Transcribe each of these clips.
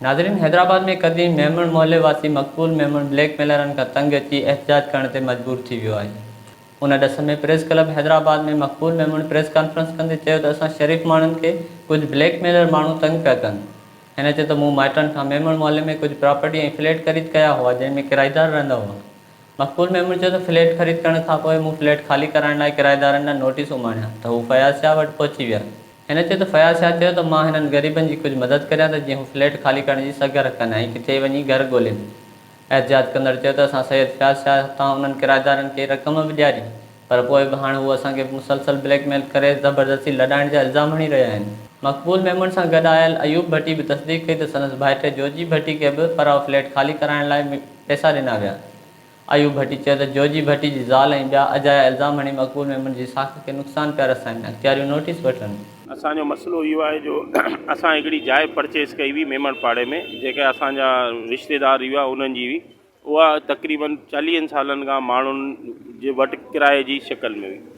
ناظرين حيدرآباد ۾ قديم ميمڻ محلي واسي مقبول ميمڻ بليڪ ميلرن کان تنگ اچي احتجاج ڪرڻ تي مجبور ٿي ويو آهي ان ڏس ۾ پريس ڪلب حيدرآباد ۾ مقبول ميمڻ پريس ڪانفرنس ڪندي چيو ته اسان شريف ماڻهن کي ڪجهه بليڪ ميلر ماڻهو تنگ پيا ڪن هن چيو ته مون مائٽن کان ميمڻ محلي ۾ ڪجهه پراپرٽي ۽ فليٽ خريد ڪيا هئا جنهن ۾ ڪرائيدار رهندا هئا مقبول ميمڻ چيو ته فليٽ خريد ڪرڻ کانپوء مون فليٽ خالي ڪرائڻ لاء ڪرائيدارن ڏانهن نوٽيس اماڻيا ته هو فياض شاهه وٽ پهچي ويا هن چيو ته فياض شاهه چيو ته مان هنن غريبن جي ڪجهه مدد ڪريان ته جيئن هو فليٽ خالي ڪرڻ جي سگهه رکن ۽ ڪٿي وڃي گهر ڳولين. احتجاج ڪندڙ چيو ته اسان سيد فياض شاهه هٿان انهن ڪرائيدارن کي رقم به ڏياري پر پوء به هاڻ هو اسان کي مسلسل بليڪ ميل ڪري زبردستي لڏائڻ جا الزام هڻي رهيا آهن. مقبول ميمڻ سان گڏ آيل ايوب ڀٽي به تصديق ڪئي ته سندس ڀائٽي جوجي ڀٽي کي به پراء فليٽ خالي ڪرائڻ لاء پئسا ڏنا ويا. ايوب ڀٽي چيو ته جوجي ڀٽي جي زال ۽ ٻيا اجايا الزام هڻي مقبول ميمڻ جي ساک کي نقصان پيا رسائين، اختياريون نوٽيس وٺن. اسان جو مسئلو اهو آهي جو اسان هڪڙي جاء پرچيز ڪئي هئي ميمڻ پاڙي ۾ جيڪا اسان جا رشتيدار هئا انهن جي هئي اها تقريبن چاليهن سالن کان ماڻهن جي وٽ ڪرايي جي شڪل ۾ هئي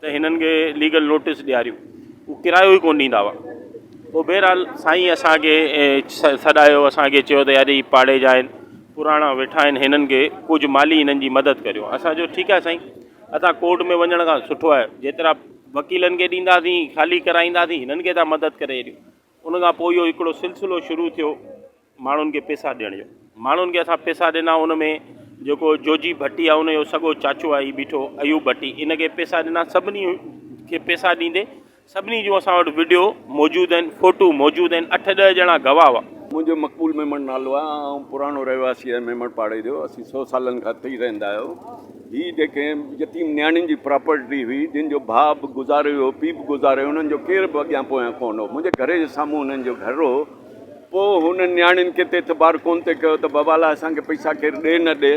ته هنن کي ليگل نوٽيس ڏياريون هو ڪرايو ئي ڪونه ڏيندا هئا پوء بهرحال سائين اسان کي سڏايو اسان کي چيو ته يار هي پاڙي جا آهن پراڻا ويٺا آهن هنن کي ڪجهه مالي هنن جي مدد ڪريو اسان چيو ٺيڪ آهي سائين اسان ڪورٽ ۾ وڃڻ کان سٺو آهي جيترا وڪيلن کي ڏينداسين خالي ڪرائينداسين هنن کي ٿا مدد ڪري هيڏيون ان کان پوء اهو هڪڙو سلسلو شروع ٿيو ماڻهن کي پيسا ڏيڻ جو ماڻهن کي اسان پيسا ڏنا ان ۾ جيڪو جوجي ڀٽي آهي ان جو سڳو چاچو آهي هي بيٺو ايوب ڀٽي ان کي پيسا ڏنا سڀني کي پيسا ڏيندي سڀني جون اسان وٽ وڊيو موجود آهن فوٽو موجود آهن اٺ ڏهه ڄڻا گواهه هئا منهنجو مقبول ميمڻ نالو آهي آئون پراڻو رهواسي آهيان ميمڻ پاڙي جو اسين سو سالن کان اتي ئي رهندا آهيون هي جيڪي يتيم نياڻين جي پراپرٽي هئي جن جو ڀاء به گذاري ويو پيء به گذاري ويو انهن جو ڪير به اڳيان پويان ڪونه هو منهنجي گهر جي سامهون انهن جو گهر هو پوء هن نياڻين کي ته اعتبار ڪونه ٿي ڪيو ته بابا لاء اسان کي پئسا ڪير ڏي نه ڏي.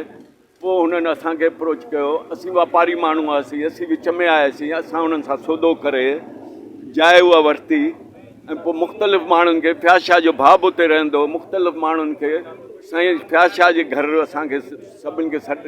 پوء هنن اسان کي اپروچ ڪيو. اسين واپاري ماڻهو هئاسين. اسين وچ ۾ آياسين. اسان هنن سان سودو ڪري جاء اها ورتي ۽ پوء مختلف ماڻهن کي فياض شاهه جو ڀاء به اتي رهندو هو. مختلف ماڻهن کي سائين فياض شاهه جي گهر اسان کي سڀني کي سڏ